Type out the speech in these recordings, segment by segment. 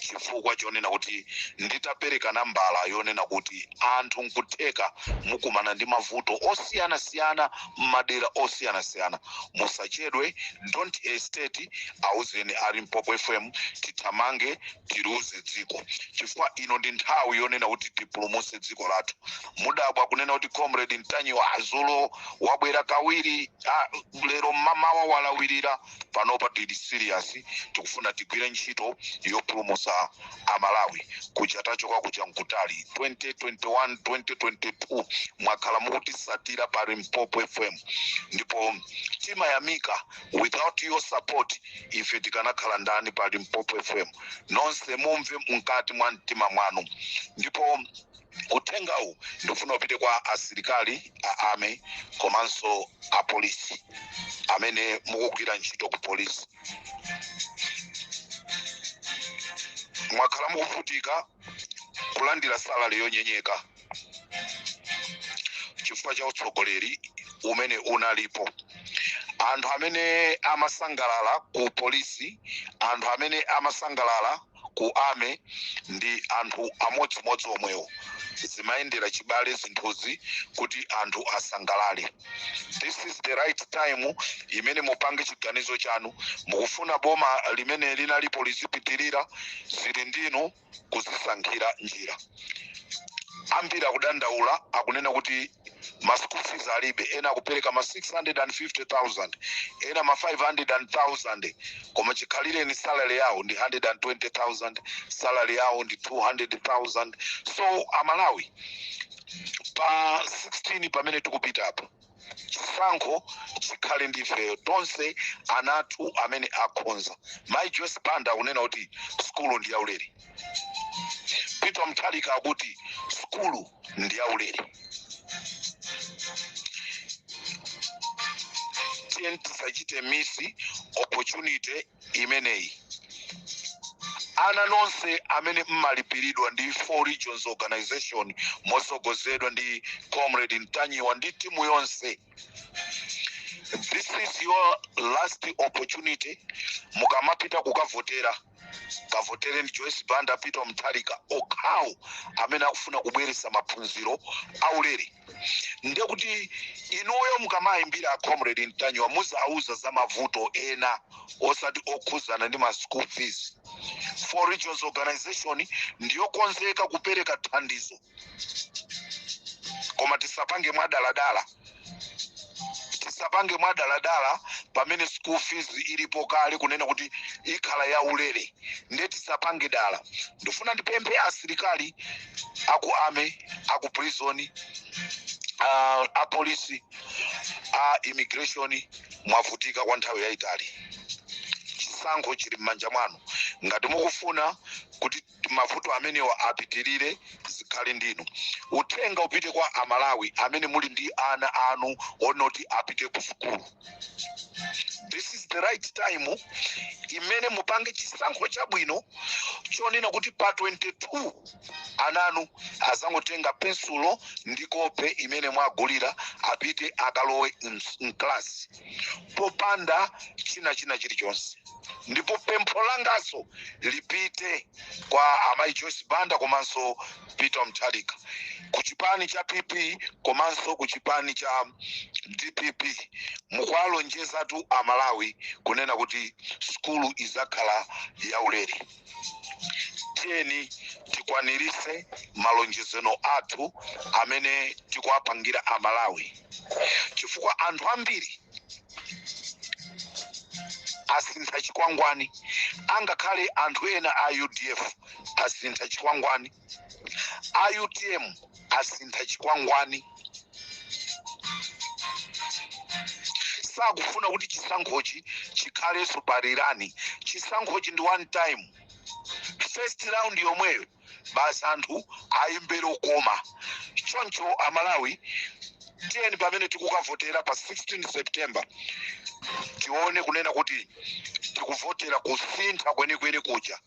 chifukwa chonena kuti nditapereka nambala yonena kuti anthu nkutheka mukumana ndi mavuto osiyanasiyana m'madera osiyanasiyana musachedwe don't hesitate auzeni a limpopo fm tithamange tiliuze dziko chifukwa ino ndi nthawi yonena kuti tipulumutse dziko lathu mudabwa kunena kuti comrade ntanyiwa azulo wabwera kawiri ah, lero mmamawa walawirira panopa tili serious tikufuna tigwire ntchito yopulumusa amalawi kuja tachoka kuja nkutali 2021 2022 mwakhala mukutisatira pa limpopo fm ndipo timayamika without your support ife tikanakhala ndani pa limpopo fm nonse mumve mkati mwa mtima mwanu ndipo Uthengawu ndikufuna upite kwa asilikali a army komanso a polisi amene mukugwira ntchito ku polisi. Mwakhala mukuvutika kulandira salary yonyenyeka chifukwa cha utsogoleri umene unalipo. Anthu amene amasangalala ku polisi, anthu amene amasangalala ku army ndi anthu amodzimodzi omwewo zimayendera chibale zinthuzi kuti anthu asangalale this is the right time imene mupange chiganizo chanu mukufuna boma limene linalipo lizipitirira zili ndinu kuzisankhira njira ambiri akudandaula akunena kuti ma school fees alibe ena akupereka ma 650000 ena ma 500000 koma chikhalirenicho salary yawo ndi 120000 salary yawo ndi 200000 so amalawi pa 16 pamene tikupitapa chisankho chikhale ndi ifeyo tonse anathu amene akhonza mayi joyce banda akunena kuti sukulu ndi yaulere peter mutharika akuti sukulu ndi yaulere tiyeni tisachite miss opportunity imeneyi ana nonse amene mmalipiridwa ndi four regions organization mosogozedwa ndi comrade ntanyiwa ndi timu yonse this is your last opportunity mukamapita kukavotera kavotereni joyce banda peter mutharika okhawo amene akufuna kubweretsa maphunziro aulere nde kuti inuyo mukamayimbira acomrade ntanyiwa muzawauza za mavuto ena osati okhuzana ndi ma school fees four regions organization ndiyokonzeka kupereka thandizo koma tisapange mwadaladala tisapange mwadaladala pamene school fees ilipo kale kunena kuti ikhala ya ulere nde tisapange dala ndifuna ndipemphe asilikali aku army aku prison uh, apolisi a immigration mwavutika kwa nthawi yayitali chisankho chili m'manja mwanu ngati mukufuna kuti mavuto amenewa apitirire zikhale ndinu uthenga upite kwa amalawi amene muli ndi ana anu onoti apite ku sukulu this is the right time imene mupange chisankho chabwino chonena kuti pa 22 ananu azangotenga pensulo ndi kope imene mwawagulira apite akalowe mklasi popanda china china chilichonse ndipo pempho langaso lipite kwa amayi joyce banda komanso peter mutharika ku chipani cha pp komanso ku chipani cha dpp mukuwalonjezatu amalawi kunena kuti sukulu izakhala yaulere tiyeni tikwanirise malonjezano athu amene tikuwapangira amalawi chifukwa anthu ambiri asintha chikwangwani angakhale anthu ena a udf asintha chikwangwani a utm asintha chikwangwani sakufuna kuti chisankhochi chikhalenso pa rerun chisankhochi ndi one time first round yomweyo basi anthu ayimbire okoma choncho amalawi tiyeni pamene tikukavotera pa 16 september tione kunena kuti tikuvotera kusintha kwenikweni kuja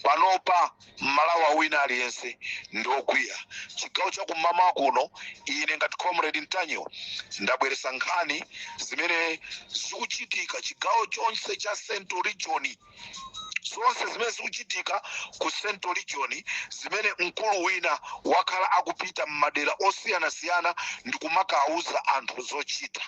panopa mmalawi wina aliyense ndi okwiya chigawo cha kum'mawa kuno ine ngati comrade ntanyiwa ndabweresa nkhani zimene zikuchitika chigawo chonse cha central region zonse zimene zikuchitika ku central region zimene mkulu wina wakhala akupita m'madera osiyanasiyana ndi kumakawuza anthu zochita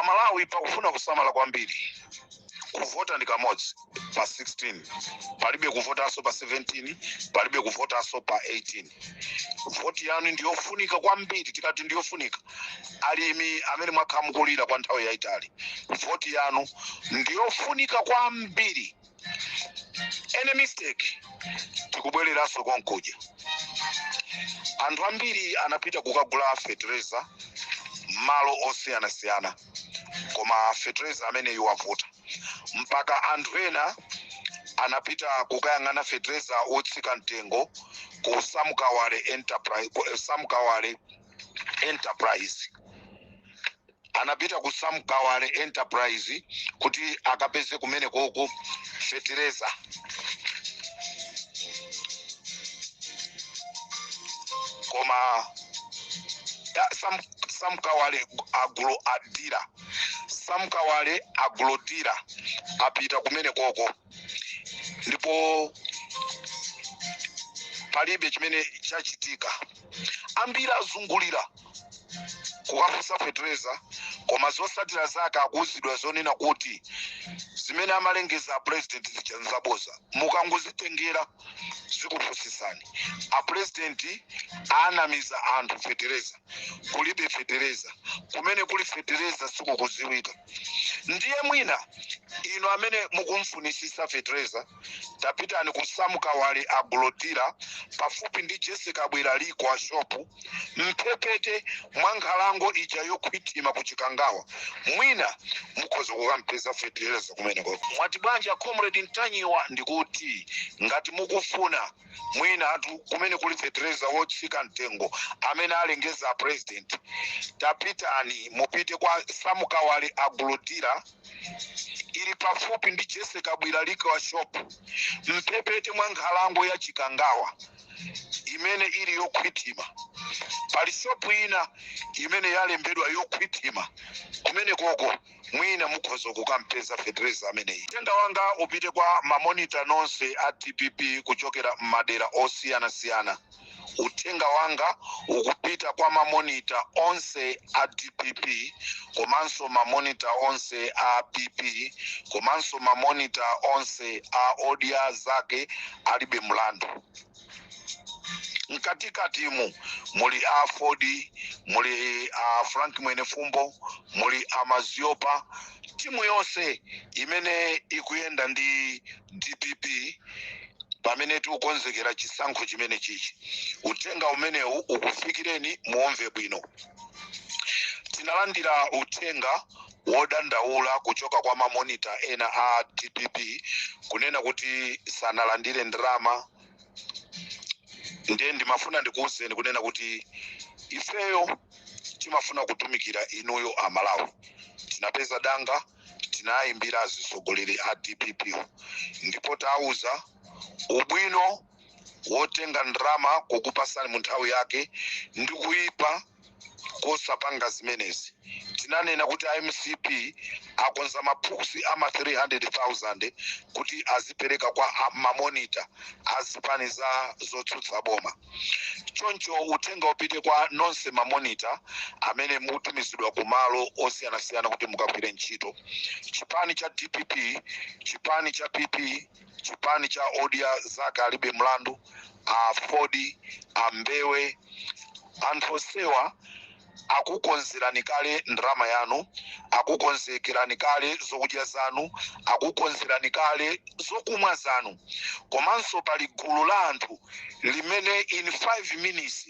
amalawi pakufuna kusamala kwambiri kuvota ndi kamodzi pa 16 palibe kuvotanso pa 17 palibe kuvotanso pa 18 voti yanu ndiyofunika kwambiri tikati ndiyofunika alimi amene mwakhala mukulira kwa nthawi yayitali voti yanu ndiyofunika kwambiri any mistake tikubwereranso konkuja anthu ambiri anapita kukagula fetereza m'malo osiyanasiyana koma fetereza ameneyu wavuta mpaka anthu ena anapita kukayang'ana fetereza otsika mtengo ku Sam Kawale enterprise anapita ku Sam Kawale Enterprise kuti akapeze kumene koko fetereza. Koma Sam Kawale agro dealer Sam Kawale agro dealer apita kumene koko ndipo palibe chimene chachitika ambiri azungulira kukafunsa fetereza koma zotsatira zake akuuzidwa zonena kuti zimene amalengeza apurezidenti zija nzaboza mukangozitengera zikupusitsani apurezidenti anamiza anthu fetereza kulibe fetereza kumene kuli fetereza sikukudziwika ndiye mwina inu amene mukumfunitsitsa fetereza tapitani ku Sam Kawale agro dealer pafupi ndi Jessie Kabwila liquor shopu mphepete mwa nkhalango ija yokhwima ku Chikangawa, mwina mukhoza kukampeza fetereza kumene koko. Mwati bwanji a Comrade Ntanyiwa? Ndikuti ngati mukufuna mwina kumene kuli fetereza wotsika mtengo amene alengeza a president tapitani mupite kwa Sam Kawale agro dealer ili pafupi ndi Jessie Kabwila liquor shop mphepete mwa nkhalango ya chikangawa imene ili yokhwitima pali shopu ina imene yalembedwa yokhwitima kumene koko mwina mukhoza kukampeza fetereza ameneyu uthenga wanga upite kwa mamonita onse a dpp kuchokera m'madera osiyanasiyana uthenga wanga ukupita kwa mamonita onse a dpp komanso mamonita onse a pp komanso mamonita onse a odya zake alibe mlandu mkatikatimu muli aford muli a frank mwenefumbo muli a mzomera timu yonse imene ikuyenda ndi dpp pamene tikukonzekera chisankho chimene chichi uthenga umenewu ukufikireni muomve bwino tinalandira uthenga wodandaula kuchoka kwa mamonita ena a dpp kunena kuti sanalandire ndalama ndiye ndimafuna ndikuwuzeni kunena kuti ifeyo timafuna kutumikira inuyo amalawi tinapeza danga tinayimbira azisogoleri a dpp ndipo tawuza ubwino wotenga ndalama kukupasani mu nthawi yake ndi kuyipa kosapanga zimenezi tinanena kuti a mcp akonza maphukusi ama 300000 kuti azipereka kwa a- mamonita a zipani za zotsutsa boma choncho uthenga upite kwa nonse mamonita amene mutumizidwa ku malo osiyanasiyana kuti mukagwire ntchito chipani cha dpp chipani cha pp chipani cha odya zake alibe mlandu aford a mbewe anthu onsewa akukonzerani kale ndalama yanu akukonzekerani kale zokudya zanu akukonzerani kale zokumwa zanu komanso pali gulu la anthu limene in 5 minutes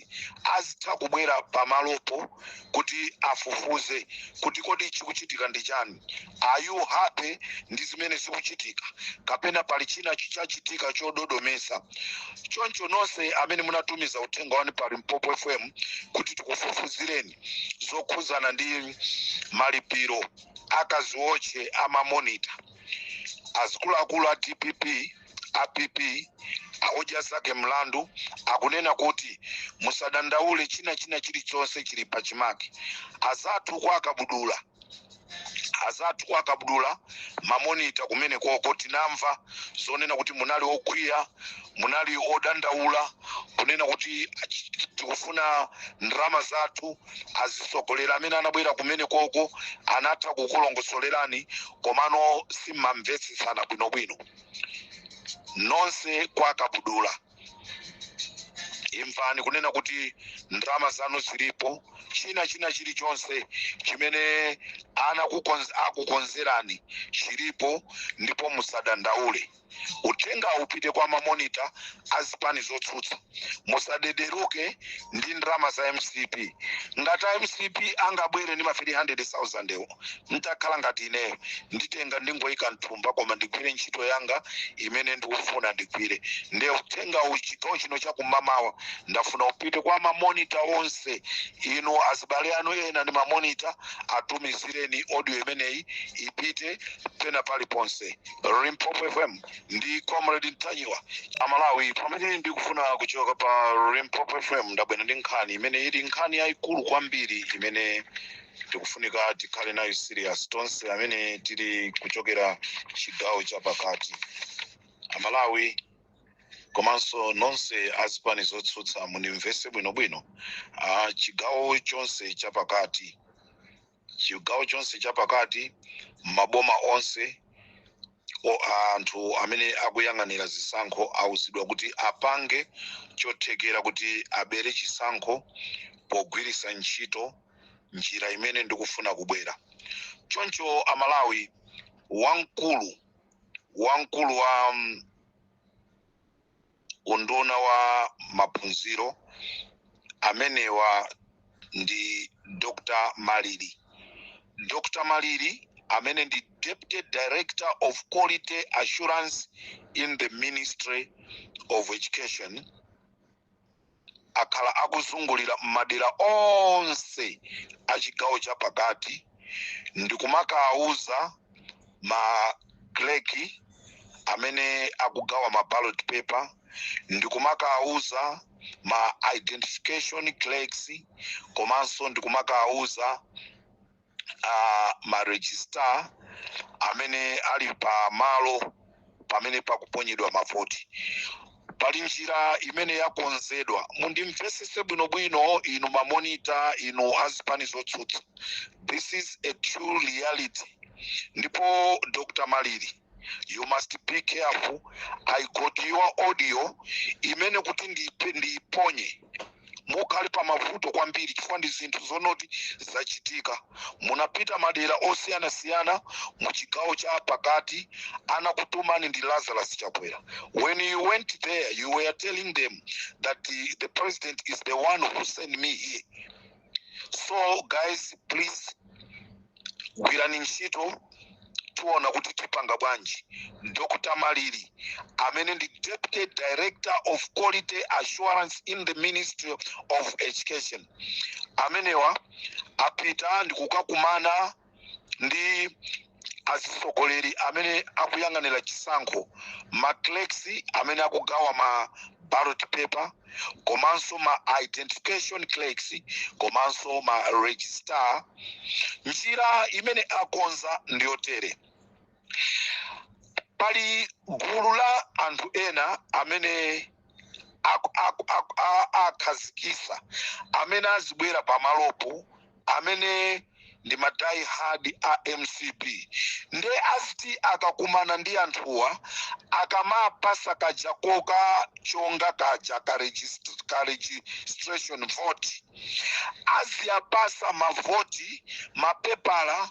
azitha kubwera pamalopo kuti afufuze kuti kodi chikuchitika ndi chani are you happy ndi zimene zikuchitika kapena pali china chikuchitika chododomesa choncho nonse amene munatumiza uthenga wanu pa limpopo fm kuti tikufufuzireni zokhuzana ndi malipiro akaziwotche amamonita azikuluakulu a dpp a pp a odya zake mlandu akunena kuti musadandaule china china chilichonse chili pa chimake azathu kwa kabudula azathu kwa kabudula mamonita kumene koko tinamva zonena kuti munali okwiya munali odandaula kunena kuti achi- tikufuna ndalama zathu azisogoleri amene anabwera kumene koko anatha kukulongosolerani komano simmamvetsetsana bwinobwino nonse kwa kabudula imvani kunena kuti ndalama zanu zilipo china china chilichonse chimene ana kukonz- akukonzerani chilipo ndipo musadandaule uthenga upite kwa mamonita a zipani zotsutsa musatengeke ndi ndalama za mcp ngati a mcp angabwere ndi ma 300000 ewo ntakhala ngati ineyo nditenga ndingoyika mthumba koma ndigwire ntchito yanga imene ndikufuna ndigwire nde uthenga uchigawo chino chakumamawa ndafuna upite kwa mamonita onse inu azibale anu ena ndi mamonita atumizireni audio imeneyi ipite pena paliponse limpopo fm ndi comrade ntanyiwa amalawi pamene ndikufuna kuchoka pa Limpopo FM ndabwera ndi nkhani imene ili nkhani yayikulu kwambiri imene tikufunika tikhale nayo serious tonse amene tili kuchokera chigawo chapakati amalawi komanso nonse azipani zotsutsa mundimvese bwinobwino ah, chigawo chonse chapakati chigawo chonse chapakati maboma onse o- anthu amene akuyang'anira zisankho auzidwa kuti apange chothekera kuti abere chisankho pogwiritsa ntchito njira imene ndikufuna kubwera choncho amalawi wamkulu wamkulu wa mm, unduna wa maphunziro amenewa ndi Dr Maliri. Dr Maliri amene ndi Deputy Director of Quality Assurance in the Ministry of Education akhala akuzungulira m'madera onse a chigawo chapakati ndikumakawuza ma clerk amene akugawa ma ballot paper ndikumakawuza ma identification clerks komanso ndikumakawuza uh, ma registrar amene ali pa malo pamene pakuponyedwa mavoti pali njira imene yakonzedwa mundimvesese bwinobwino inu mamonita inu azipani zotsutsa this is a true reality ndipo dr maliri you must be careful i got your audio imene kuti ndiipe- ndiiponye mukhale pa mavuto kwambiri chifukwa ndi zinthu zonoti zachitika munapita madera osiyanasiyana mu chigawo cha pakati anakutumani ndi lazarus chakwera when you went there you were telling them that the, the president is the one who sent me here so guys please gwirani ntchito tiona kuti tipanga bwanji dr maliri amene ndi deputy director of quality assurance in the ministry of education amenewa apita ndikukakumana ndi azitsogoleri amene akuyang'anira chisankho ma clerks amene akugawa ma ballot paper komanso ma identification clerks komanso ma registrar njira imene akonza ndiyotere pali gulu la anthu ena amene aku- aku- aku- a- akhazikisa amene azibwera pamalopo amene ndi ma die hard a mcp nde aziti akakumana ndi anthuwa akamapasa kaja koka chonga kaja ka regist- ka registration vote aziyapasa mavoti mapepala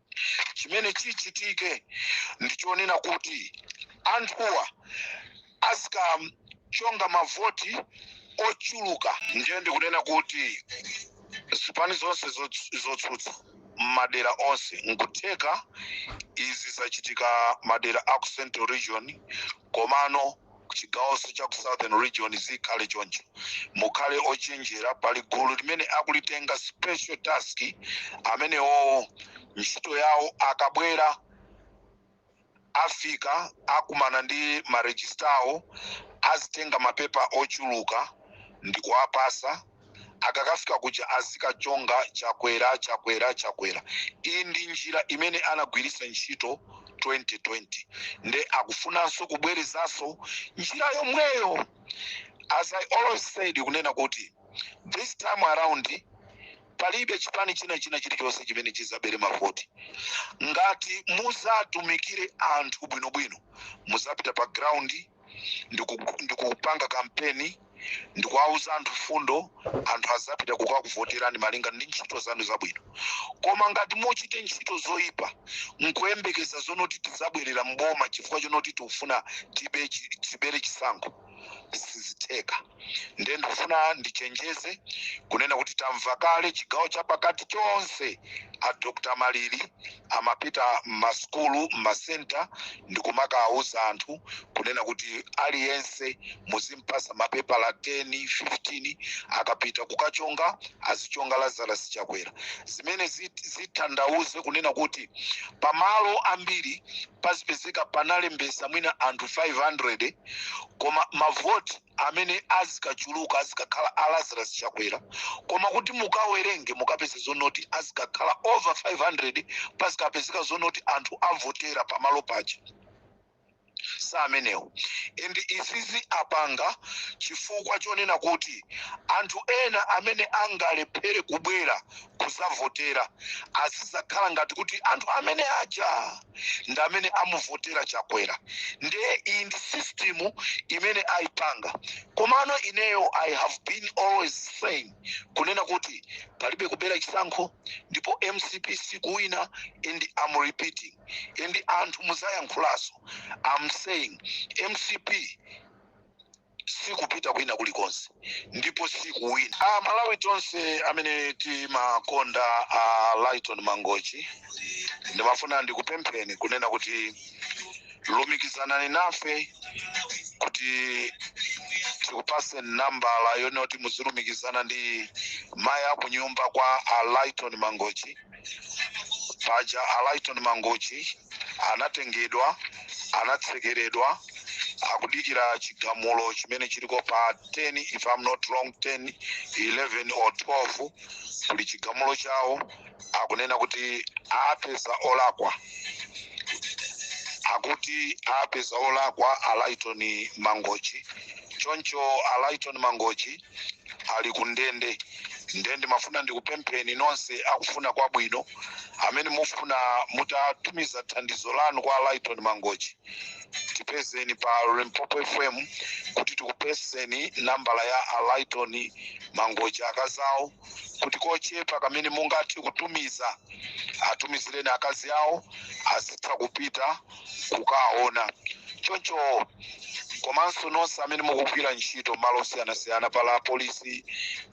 chimene chichitike ndi chonena kuti anthuwa azikachonga mavoti ochuluka ndiye ndikunena kuti zipani zonse zotsu- zotsutsa m'madera onse nkutheka izi zachitika madera a ku central region komano kuchigawonso cha ku southern region zikhale choncho mukhale ochenjera pali gulu limene akulitenga special task amenewo ntchito yawo akabwera afika akumana ndi marejistawo azitenga mapepala ochuluka ndikuwapasa akakafika kuja azikachonga chakwera chakwera chakwera iyi ndi njira imene anagwiritsa ntchito 2020 nde akufunanso kubwerezanso njira yomweyo as i always said kunena kuti this time around palibe chipani china china chilichonse chimene chizabere mavoti ngati muzatumikire anthu bwinobwino muzapita pa ground ndiku- ndikupanga kampeni ndikuwauza anthu fundo anthu azapita kukakuvoterani malinga ndi ntchito zanu zabwino koma ngati muchite ntchito zoyipa nkuyembekeza zonoti tizabwerera mboma chifukwa chonoti tikufuna tibe chi- tibere chisankho sizitheka ndiye ndikufuna ndichenjeze kunena kuti tamva kale chigawo cha pakati chonse a dr malili amapita m'masukulu m'masenta ndikumakawauza anthu kunena kuti aliyense muzimpasa mapepala 10 15 akapita kukachonga azichonga lazarus chakwera zimene zit- zithandauze kunena kuti pamalo ambiri pazipezeka panalembesa mwina anthu 500 koma mavoti amene azikachuluka azikakhala a lazarus chakwera koma kuti mukawerenge mukapeza zonoti azikakhala over 500 pazikapezeka zonoti anthu avotera pamalo paja samenewo and izizi apanga chifukwa chonena kuti anthu ena amene angalephere kubwera kuzavotera azizakhala ngati kuti anthu amene aja ndi amene amuvotera chakwera ndiye iyi ndi system imene ayipanga komano ineyo i have been always saying kunena kuti palibe kubera chisankho ndipo mcp sikuwina and am repeating and anthu muzayankhulaso am saying mcp sikupita kwina kulikonse ndipo sikuwina a malawi tonse amene timakonda a lyton mangochi ndimafuna ndikupempheni kunena kuti lumikizanani nafe kuti tikupase nambala yonoti muzilumikizana ndi mayi akunyumba kwa a lyton mangochi paja a Lyton Mangochi anatengedwa anatsekeredwa akudikira chigamulo chimene chiliko pa 10 if I'm not wrong 10 11 or 12 kuli chigamulo chawo akunena kuti apeza olakwa akuti apeza olakwa a Lyton Mangochi choncho a Lyton Mangochi ali ku ndende nde ndimafuna ndikupempheni nonse akufuna kwabwino amene mufuna mutatumiza thandizo lanu kwa a lyton mangochi tipezeni pa limpopo fm kuti tikupaseni nambala ya a lyton mangochi akazi awo kuti kochepa kamene mungathe kutumiza atumizireni akazi awo azitha kupita kukaona choncho komanso nonse amene mukugwira ntchito m'malo osiyanasiyana pali apolisi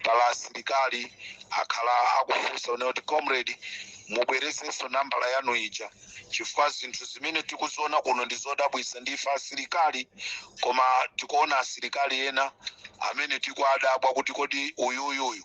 pali asilikali akhala akufunsa kunena kuti comrade mubwerezenso nambala yanu ija chifukwa zinthu zimene tikuziona kuno ndi zodabwitsa ndife asilikali koma tikuona asilikali ena amene tikuwadabwa kuti kodi uyuyuyu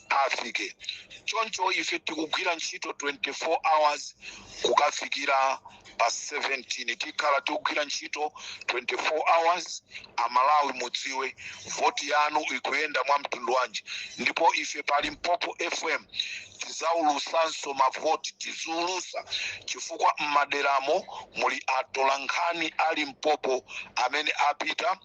afike. Choncho ife tikugwira ntchito 24 hours kukafikira pa 17 tikhala tikugwira ntchito 24 hours. A Malawi mudziwe voti yanu ikuyenda mwa mtundu wanji ndipo ife pa Limpopo FM tizaulusanso mavoti tiziulusa chifukwa m'maderamo muli atolankhani a Limpopo amene apita.